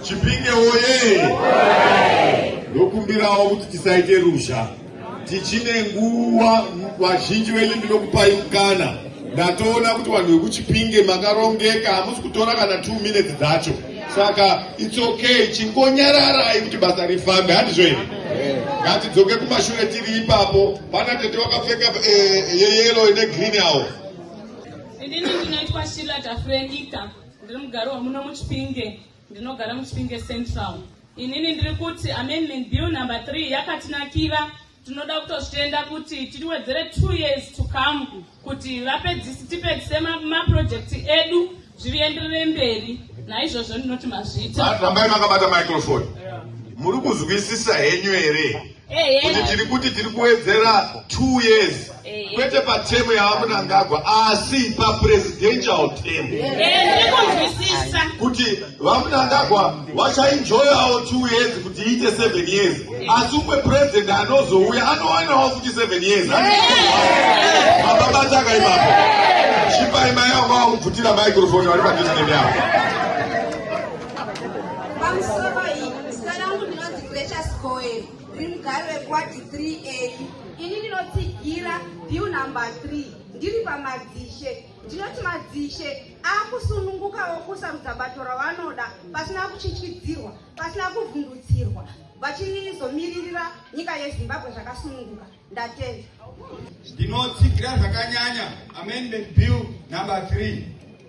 Chipinge woye! Ndokumbirawo kuti tisaite ruzha, tichine nguva. Vazhinji venyu ndinokupai mukana. Ndatoona kuti vanhu vekuchipinge makarongeka, hamusi kutora kana two minutes dzacho, saka it's okay, chingonyararai kuti basa rifambe, handizvo here? Ngatidzoke kumashure tiri ipapo. Pana tete wakapfeka eh, yeyelo ine green awo. Ini ndinoitwa Shila Tafrenika. Ndiri mugari wemuno muChipinge, ndinogara muChipinge Central. Inini ndiri kuti amendment bill number 3 yakatinakira tinoda kutozvitenda kuti tiriwedzere two years to come kuti vapedzisi tipedzise maprojekti ma edu zvirienderere mberi naizvozvo ndinoti mazvita rambai makabata microfoni muri kuzwisisa henyu here kuti tiri kuti tiri kuwedzera two years kwete patemu yavamunangagwa asi papresidential tem kuti vamunangagwa vachainjoyawo two years kuti iite seven years asi umwe president anozouya anowanawo futi seven years mababataka ipapo chipai mai avo vavakubvutira microfone vari padisnemi avo Precious Goe ndiri mugari wekuwadi 3a ini ndinotsigira bill number 3 ndiri pamadzishe ndinoti madzishe akusununguka wokusarudza bato rawanoda pasina kuchichidzirwa pasina kuvhundutsirwa vachinizomiririra nyika yezimbabwe zvakasununguka Ndatenda. Ndinotsigira zvakanyanya amendment bill number 3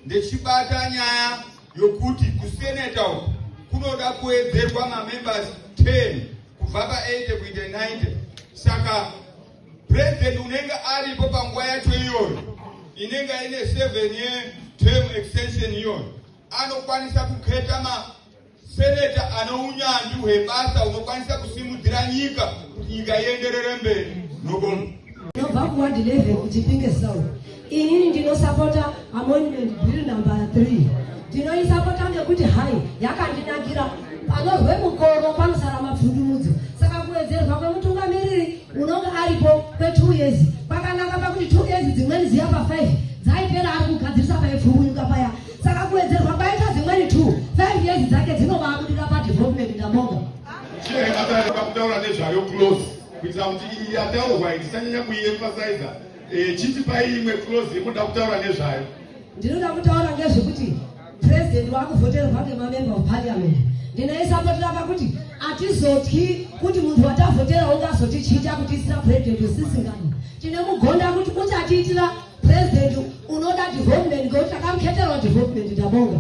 ndechibata nyaya yokuti kuseneta uku kunoda kuwedzerwa mamembers 10 kubva pa80 kuita 90 saka president unenge aripo panguva yacho iyoyo inenge ine 7 year term extension iyoyo anokwanisa kuketa ma Seneta ane unyanzvi hwebasa unokwanisa kusimudzira nyika kuti nyika ienderere mberi. Nobonga. Ndobva kuward 11 kuChipinge South. Inini ndinosapota amendment bill number 3. Ndinoisapota ngekuti hai yakandinakira panozwe mukoro panosara mapfundumudzo. Saka kuwedzerwa kwemutungamiriri unonge aripo kwe 2 years kwakanaka pakuti 2 years dzimweni dziya pa 5 dzaipera ari kugadzirisa paipfumunyuka paya. Saka kuwedzerwa kwaita dzimweni two five years dzake dzinobabudira padevelopment ndabonga. Chine akatarira kutaura nezvayo close kuitira kuti iyi yataurwa itisanyanya kuiemphasiza eh, chiti pai imwe close yemunoda kutaura nezvayo. Ndinoda kutaura ngezvekuti president wakuvhoterwa ngemamember of parliament ndinoisapotera pakuti atizotyi kuti munhu watavhotera ungazotichita kutiitira president wesisingani tine mugonda kuti uchatiitira President unoda development ngekuti takamukheterwa development ndabonga.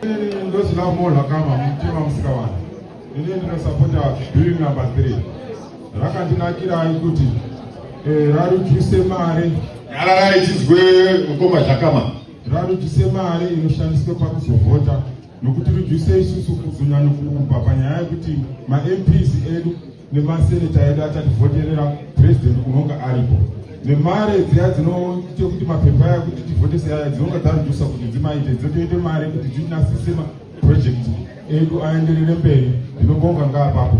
Ini ndosina kumorwa kama mutima musikawana. Ini ndinosapota bill number 3. Rakandinakira kuti eh, rarujuse mari. Yarara ichizwe mukoma zvakama. Rarujuse mari inoshandiswa pakuzovhota nokuti rujuse isusu kuzunya nokuumba panyaya yekuti maMPs edu nemaseneta edu achativhoterera president unonga aripo nemari dziya dzinoita kuti mapepa aya kuti tivhotese aya dzinonga dzarudusa kuti dzimaite dzinotoite mari kuti dzinasise maproject edu aenderere mberi ndinobonga ngaapapo